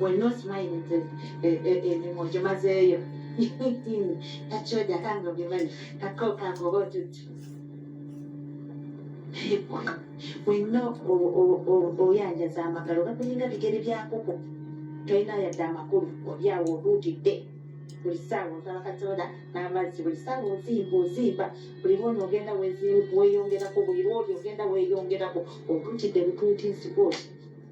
wenna osimayire nti emimwa ogimazeeyo kakyoja kange obimanyi kakokanga oba otuti wenna oyanjaza amagalo gakulinga bigere byakuku tolina yadde amakulu olyawo oluutidde buli saawa osaba katonda n'amazzi buli saawa ozimba ozimba buli lwona ogenda weyongerako buli lwoli ogenda weyongerako otuutidde butuuti nsigooti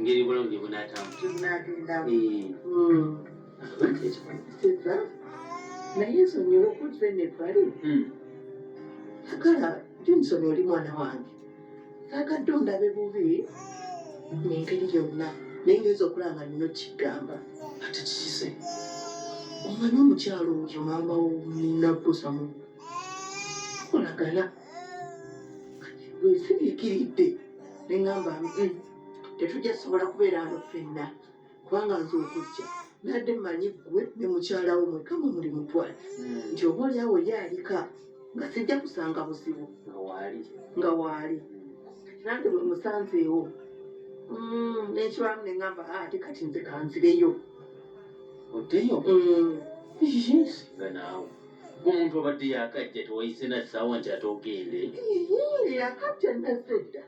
ngeri bulamu gye bunaatambulizaagenda naye nsonyiwa okutula eno ebbali sagala johnson oli mwana wange sagadde ondabe bubi nengeri yonna naye ngenza okulanga nina okigamba ate kikise omanyi omukyalo oyo maama wo nina kusamu kolagana bwensiriikiridde ne ŋŋamba nti tetujja sobola kubeera ano ffenna kubanga nze okujja nadde manyi ggwe ne mukyala wo mweka mwe muli mutwale hmm. nti oba olyawo ye alika nga sijja kusanga buzibu nga waali nange bwe musanzeewo hmm, nekibamu ne ŋŋamba ah, ate kati nze kanzireyo oddeyo hmm. omuntu obadde yakajja tewayise na ssaawa nti ate ogende yakajja nazze dda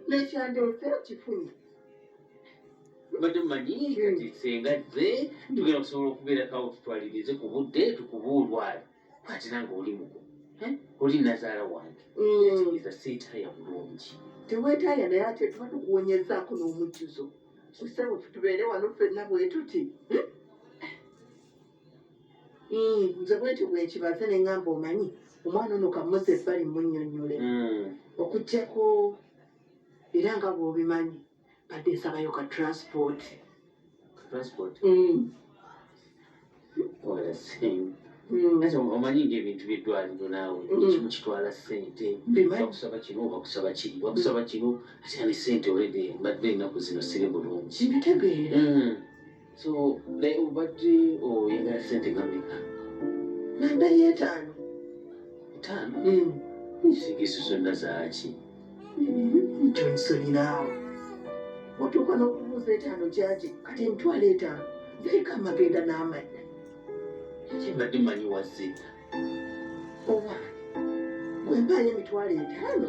nekyandeese kifunye obadde mumanyi kati senga zze tugenda kusobola okubeera kawo tutwalirize ku budde tukubuulwala kati nange oli muku oli nazaala wange kitegeeza seetaaya bulungi teweetaaya naye ate tuba tukuwonyezaako n'omujjuzo kusebo tubeere wano ffenna bwetuti Hmm, nze bwekyo bwekibaze nengamba omanyi omwana ono kamuze ebbali munyonyole hmm. okujjako era nga bwobimanyi badde nsabayo ka transport hmm. omanyi ngaebintu byeddwaliro naawe kimu kitwala sente bakusaba kino bakusaba kiri bakusaba kino ate ani sente olede mbadde ennaku zino siri bulungi so naye obadde oyagala sente ngameka nanda yetaano etaano hmm. nsigisu zonna zaaki kyonsonyireawo otuuka n'okubuuza etaano gyaki kati emitwalo etaano ziriko amagenda n'amannya eki mbadde manyi wazita owa gwe mpaayo emitwalo etaano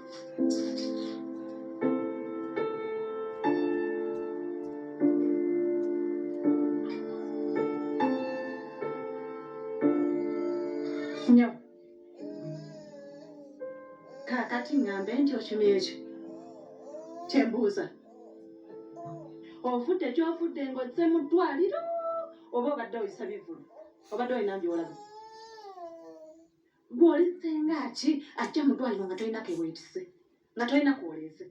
nyabo kakati ŋŋambe nti okimye ekyo kye mbuuza ofudde gy'ofudde ng'ozze mu ddwaliro oba obadde oyisa bivulu obadde olina by'olaba Gwoli senga ki ajja mu ddwaliro nga tolina ke weetise, nga tolina kwoleese.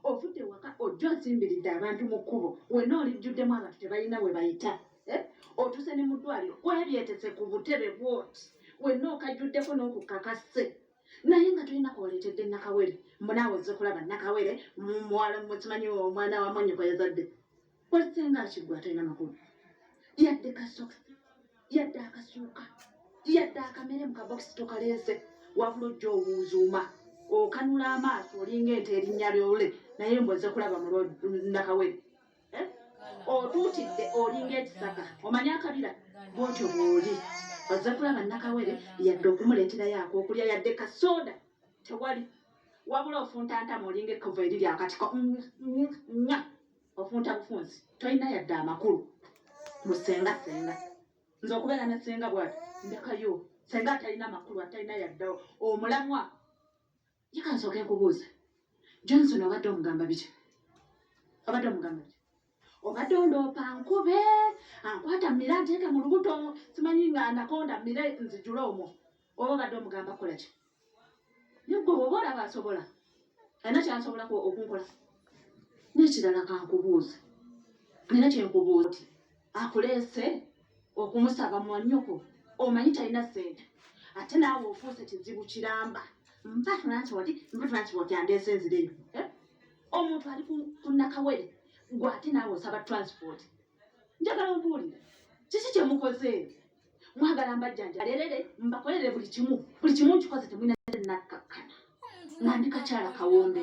Ovudde waka ojja osimbiridde abantu mu kkubo, wenna olijjuddemu abantu tebalina we bayita. Eh? Otuuse ne mu ddwaliro weebyetese ku butebe bwoti, wenna okajjuddeko n'okukakasse naye nga tolina kwoleetedde nakawere. Mbu naawe ozze kulaba nakawere, muwala mukimanyi omwana wa mwanyoko yazadde. wasinga akigwa atalina makulu yadde kasokisi yadde akasuuka yadde akamere mu kabokisi tokalense wabula ojja obuuzuuma okanula amaaso olinga ente erinnya lyole naye mboze kulaba mulnakawere eh? otuutidde olinga ekisaka omanye akabira bwotyo bwoli oze kulaba nakawere yadde okumuleeterayo akokulya yadde kasooda tewali wabula ofuntantamu olinga ekkovu eriri akatiko nga Ofunta bufunzi tolina yadde amakulu mu senga senga nze okubeera ne senga bwati ndekayo senga atalina makulu atalina yadde omulamwa yekansooke nkubuuza johnson obadde omugamba biki obadde omugamba biki obadde ondoopa nkube ankwata mira nteeke mu lubuto simanyi nga anakonda mire nzijule omwo oba obadde omugamba kolaki naye gwe bwoba olaba asobola alina kyasobolako okunkola nekirala kankubuuze alina kyenkubuuza ti akuleese okumusaba mwanyoko omanyi talina sente ate naawe ofuuse kizibu kiramba mpatunantiwati mpatunantiwati andeese nzireyo eh? omuntu ali kunakawere gwe ate naawe osaba transport njagala ombuulire kiki kye mukoze mwagala mbajjanja lerere mbakolere buli kimu buli kimu nkikoze temulina nakkakkana nga ndi kakyala kawombe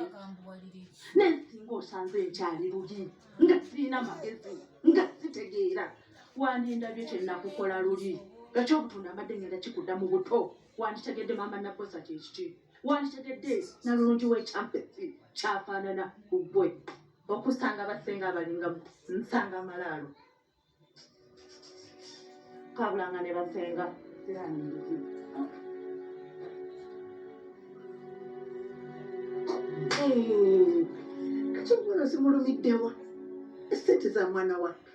naye singa osanze nkyali luli nga sirina magezi nga sitegeera wandindabye kyenakukola luli ekyobutunda amadde ngenda kikudda mu buto wanditegedde maama nabosa kyekiki wanditegedde nalulungi wekyampesi kyafaanana ku ggwe okusanga basenga abalinga nsanga malaalo kabulanga ne basenga kati omuno zimulumiddewa esente za mwana wa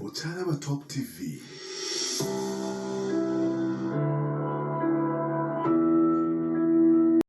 Okyalaba Top TV.